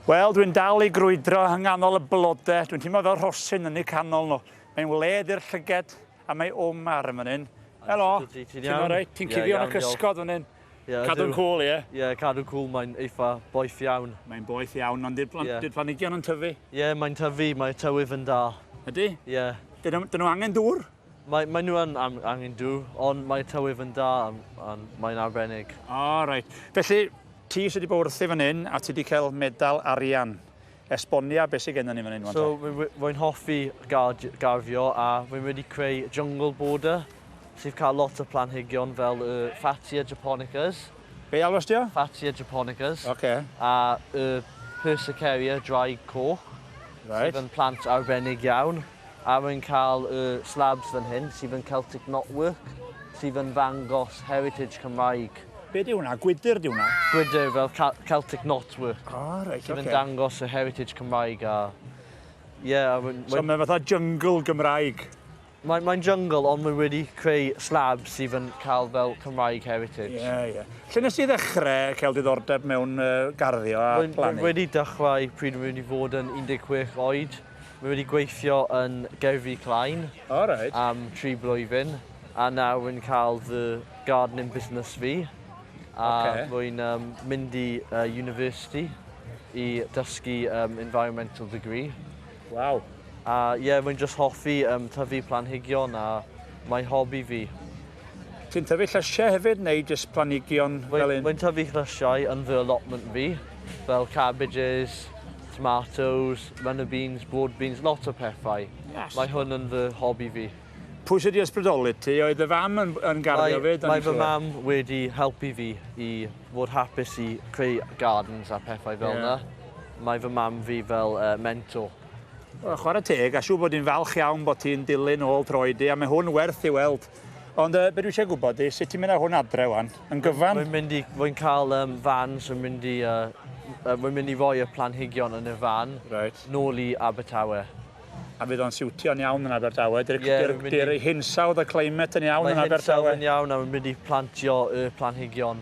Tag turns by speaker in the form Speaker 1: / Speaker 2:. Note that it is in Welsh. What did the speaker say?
Speaker 1: Wel, dwi'n dal i grwydro yng nghanol y blodau. Dwi'n teimlo fel rhosyn yn eu canol nhw. Mae'n wledd i'r llyged, a mae wm ar yn fan hyn. Helo, ti'n alright? Ti'n cuddio yn y cysgod fan hyn. Cadw'n cwl, ie? Ie, cadw'n cwl, mae'n
Speaker 2: eitha boeth iawn. Mae'n boeth iawn, ond
Speaker 1: di'r planhigion yn tyfu? Ie, mae'n tyfu,
Speaker 2: mae tywydd yn da. Ydy? Ie. Dyn nhw angen
Speaker 1: dŵr? Mae, mae nhw yn
Speaker 2: angen Duw, ond mae tywydd yn da a, a mae'n arbennig. O, oh, reit.
Speaker 1: Felly, ti sydd wedi bod wrthi fan hyn a ti wedi cael medal arian. Esbonia beth sydd gennym ni fan hyn, Wanta. So, rwy'n
Speaker 2: hoffi garddio a rwy'n wedi creu jungle border sydd cael lot o planhigion fel y Fatsia japonicas. Be alwas di o?
Speaker 1: Fatsia japonicas.
Speaker 2: Oce. Okay.
Speaker 1: A y
Speaker 2: Persicaria dry coch. Right. Sydd yn plant arbennig iawn. A rwy'n cael y slabs fan hyn sydd yn Celtic Knotwork, sydd yn ddangos heritage Cymraeg. Be di hwnna?
Speaker 1: Gwydr di hwnna? Gwydr fel
Speaker 2: Celtic Knotwork. O, oh, reit, oce. Sydd yn
Speaker 1: dangos y
Speaker 2: heritage Cymraeg a... Ie, a
Speaker 1: rwy'n... So mae'n fatha jungle Gymraeg? Mae'n mae
Speaker 2: jungle, ond mae wedi creu slabs sydd yn cael fel Cymraeg heritage. Ie, yeah, ie. Yeah. Lle nes
Speaker 1: i ddechrau cael diddordeb mewn uh, garddio a plannu? Rwy'n wedi dechrau
Speaker 2: pryd rwy'n wedi fod yn 16 oed. Mae wedi gweithio yn Gerfi Klein oh, right. am tri blwyddyn a nawr yn cael fy gardening business fi a okay. rwy'n um, mynd i uh, university i dysgu um, environmental degree. Waw.
Speaker 1: A ie,
Speaker 2: yeah, rwy'n just hoffi um, tyfu planhigion a mae hobi fi. Ti'n
Speaker 1: tyfu llysiau hefyd neu jyst planigion fel un? Mae'n tyfu llysiau
Speaker 2: yn fy allotment fi, fel cabbages, tomatoes, runner beans, broad beans, lot o pethau. Yes. Mae hwn yn fy hobi fi. Pwy sydd wedi
Speaker 1: ysbrydoli ti? Oedd y fam yn, yn garddio fyd? Mae fy mam wedi
Speaker 2: helpu fi i fod hapus i creu gardens a pethau fel yeah. na. Mae fy mam fi fel uh, mentor. Wel, chwarae
Speaker 1: teg, a siw bod hi'n falch iawn bod hi'n dilyn ôl droed i, a mae hwn werth i weld. Ond uh, beth dwi eisiau gwybod i, sut ti'n mynd â hwn adre wan? Yn gyfan? Rwy'n mynd i, rwy'n cael
Speaker 2: um, fan, rwy'n mynd i, uh, uh, rwy'n mynd i roi y planhigion yn y fan, right. nôl i Abertawe. A fydd o'n
Speaker 1: siwtio'n iawn yn Abertawe? Dy'r yeah, dy, dy, hinsawdd y climate yn iawn yn Abertawe? Mae hinsawdd yn iawn a rwy'n mynd
Speaker 2: i plantio y planhigion